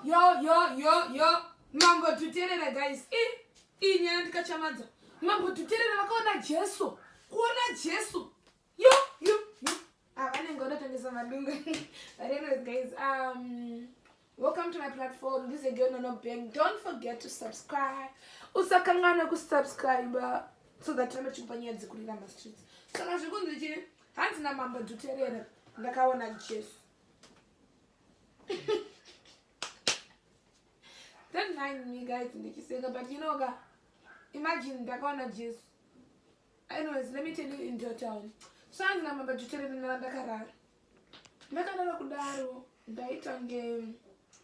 yo yo yo yo mambo tuterera guys i iyi nyaya ndikachamadza mambo tuterera vakaona jesu kuona jesu yo yo yo ah, vanenge vanotangisa madunga but anyways guys um welcome to my platform this is again ono bang don't forget to subscribe usakanganwe kusubscribe so that rambe chikupa nyaya dzikurira mastreets saka zvikunzi chii hanzi namambo tuterera ndakaona jesu don't mind me guys ndichiseka but you know ka imagine ndakaona jesu anyways let me tell you in your town so anzi namamba tuteremenara ndakarara ndakarara kudaro ndaitange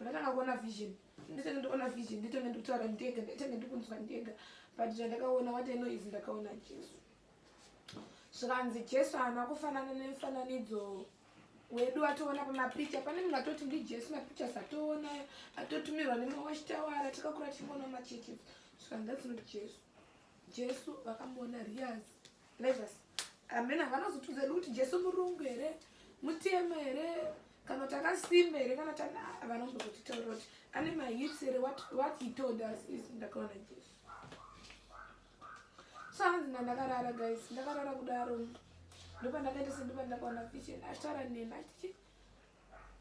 ndakatanga kuona vision nditenge ndikuona vision nditenge ndikutaura ndega nditenge ndikunzwa ndega but zvandakaona what i know is ndakaona jesu zvikanzi jesu haana kufanana nemifananidzo wedu atoona pamapicha pane munhu atoti ndijesu mapichas atoona atotumirwa nemawachitawara takakura tichimboona machechi zvikandatsino jesu jesu vakamuona rias levas amene havanazotudza edu kuti jesu murungu here mutema here kana kuti akasimba here kana tana vanombozotitaura kuti ane mahits here what he told us is ndakaona jesu Sanzi ndandakarara guys, ndakarara kudaro. Ndopandakaita sendopandakaona vision achitaura neni achiti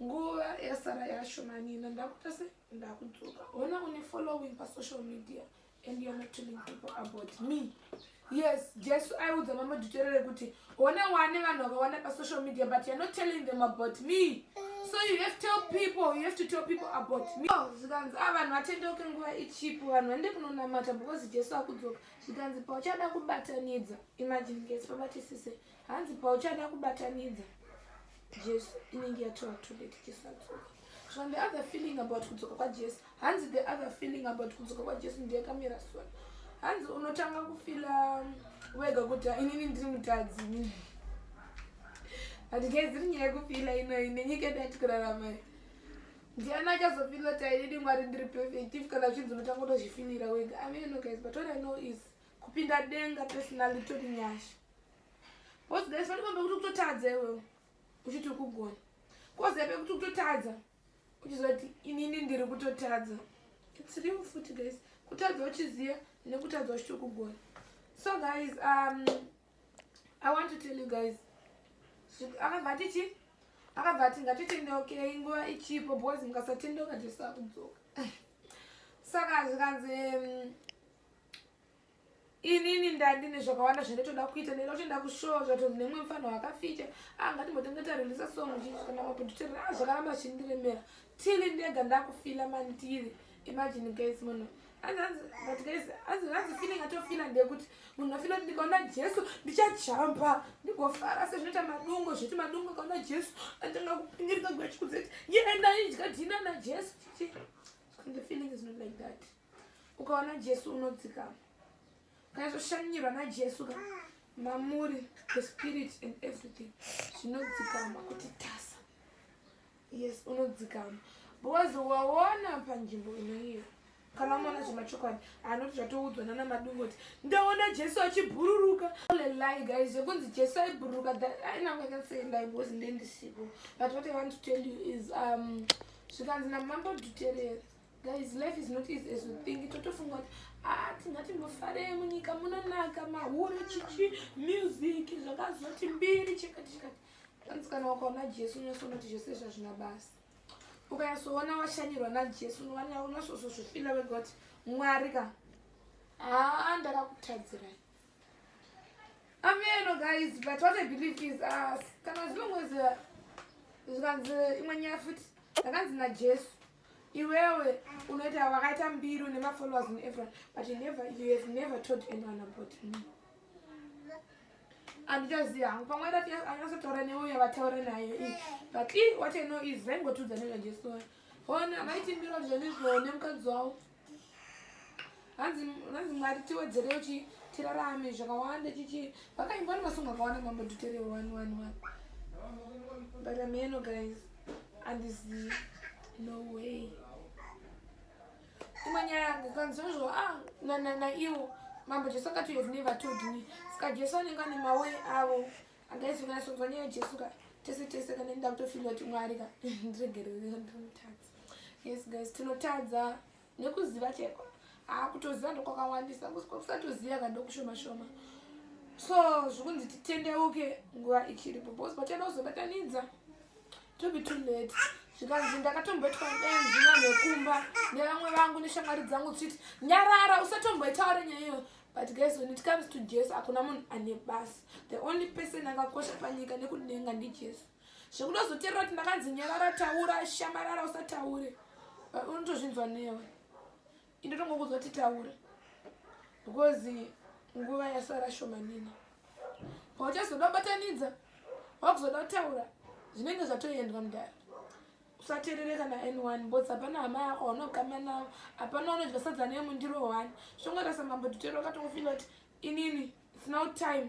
nguva yasara yashomanina ndakuita se ndakudzoka. Hona une following pa social media and you're not telling people about me. Yes, Jesu aiudza mama Duterere kuti Hona wane vanhu vakawanda pa social media but you're not telling them about me. So you have to tell people, you have to tell people about me. Oh, zvikanzi ah vanhu vatendeuke nguva ichipo vanhu vande kunonamata because Jesu akudzoka. Zvikanzi pauchada kubatanidza. Imagine guys pabatisise. Hanzi pauchada kubatanidza. Jesu inenge yatova too late tisadzoka so the other feeling about kudzoka kwajesu hanzi the other feeling about kudzoka kwajesu ndiyakamira sona hanzi unotanga kufila um, wega kuti inini ndiri mutadzi inini but guys iri nyaya yekufila inoyi nenyika yedu yatikurarama ndiani achazofila taididi mwari ndiri perfect if kana zvinzi unotanga kutozvifinira wega ameno guys but what i know is kupinda denga personally tori nyasha Boss guys pati kwambe kuti kutotadza iwewe uchiti uri kugona. Kozi yape kuti kutotadza uchizoti inini ndiri kutotadza. It's real futi guys. Kutadza uchiziva nekutadza uchiti uri kugona. So guys um I want to tell you guys akabva atichi akabva ati ngatitendeukeyi nguva ichipo because mukasatendeuka jesu akudzoka saka zvikanzi mm, inini ndandi nezvakawanda zvanditoda kuita ndenda kuti ndakushowa zvatonzi nemwe mufana wakafita ah, angatimbotange tarelisa song chichikana maproducer a ah, zvakaramba zvichindiremera tili ndega ndakufila mani tili imagine guys munhu azifeeling atofila ndekuti munhu afila kuti ndikaona jesu ndichajamba ndigofara sezvinoita madungo zviti madungo akaona jesu atanga kupingirika gwachikudzeti yenda idya dhina najesu chichi the feeling is not like that ukaona jesu unodzikama ukanyazoshanyirwa najesu ka mamuri the spirit and everything zvinodzikama kuti tasa yes unodzikama because waona panzvimbo inoiyo kana umaona zvemachokwadi anoti zvatoudzwa nana madungu kuti ndaona jesu achibhururuka lelai guys zvekunzi jesu aibhururuka ainangakanseendai because ndendisipo but what i want to tell you is um zvikanzi namambo dutereri guys life is not easy as you think totofunga kuti ah tingati mufarei munyika munonaka mahuro chichi music zvakazoti mbiri chekati chekati hanzi kana wakaona jesu unosoona kuti zvese izvi hazvina basa ukanyasoona washanyirwa najesu unosozozvifila wega kuti mwari ka haa ndakakutadzirai ameno guys but what i believe is ah, kana zvinongozi zvikanzi imwe nyaya futi ndakanzi najesu iwewe unoita wakaita mbiri une mafollowers in everyone but you never, you have never told anyone about me anditoziva hangu pamwe anyasotaura neuyo vataura nayo i but i what i know is vaingotiudza nezvanjesu hona vaiti mbiro zvenizvo nemukadzi wavo hanzi hanzi mwari tiwedzerewo chi tirarame zvakawanda chichi vakaimbwa nemasongo akawanda mambo nditerewo wani wani wani but ameno guys andizivi no way imwe nyaya yangu kanzozvo a ah, naiwo mambo jesu akati you have never told me saka jesu anenge ane mawe avo angaizokanasonzwa nyaya yejesu ka tese tese kana nda kutofila kuti mwari ka ndiregerere ndinotadza yes guys tinotadza nekuziva cheko haa kutoziva ndokwakawandisa kusatoziva ka ndokushoma shoma so zvikunzi titendeuke nguva ichiripo bcause patenda kuzobatanidza to be too late zvikanzi ndakatombetwa benzi vanhekumba nevamwe vangu neshamwari dzangu tichiti nyarara usatomboitaure nyaya iyo but guys when it comes to jesu hakuna munhu ane basa the only person akakosha panyika nekudenga ndijesu zvekutozoterera kuti ndakanzi nyarara taura shamarara usataure unotozvinzwa newe indotongokudzwa kuti taura because nguva yasara shomanini pauchazoda kubatanidza wakuzoda kutaura zvinenge zvatoendwa mudhara usaterere kana anyone bcause hapana hama yako waunogama navo hapana unodya sadza nemundiro one zvongoita samambo tutero wakatongofila kuti inini it's now time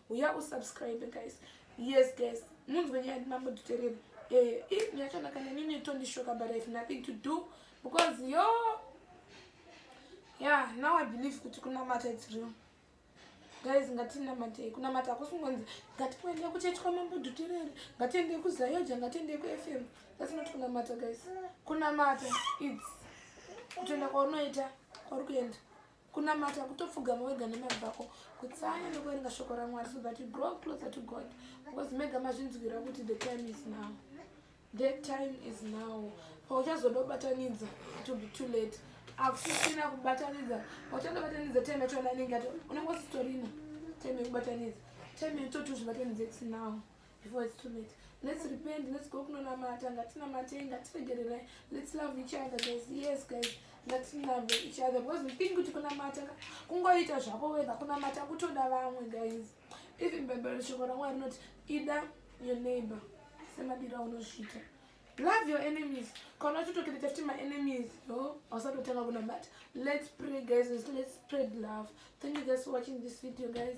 uya usubscribe guys yes guys munzwe nyaya yati mambo duterere eh, eh, yakanaka nenini tondishoka but ihave nothing to do because yo yeah now i believe kuti kunamata its real guys ngatinamatei kunamata akusingonzi ngatipoendei kuchechi kwamambo duterere ngatiendei kuzayoja ngatiendei kufm that's not kunamata guys kunamata its kutoenda kwaunoita kwauri kuenda kunamata kutopfugama wega nemari vako kutsanya nekuverenga shoko ramwari so that you grow closer to god because mega mazvinzwira kuti the time is now the time is now pauchazoda kubatanidza it will be too late akusisina kubatanidza pauchada kubatanidza time yacho ananenge ati unenge usitorina time yekubatanidza time yatoti uzvibatanidza its now before it's too late let's repent let's go kunonamata ngatinamatei ngatiregererai let's love each other guys yes guys ngatilove each other because we think kuti kunamata kungoita zvako wega kunamata kutoda vamwe guys even bhaibheri shoko ramwari rinoti ida your neighbor semadira unozviita love your enemies kana uchitokirita futi maenemies yo hausatotanga kunamata let's pray guys let's spread love thank you guys for watching this video guys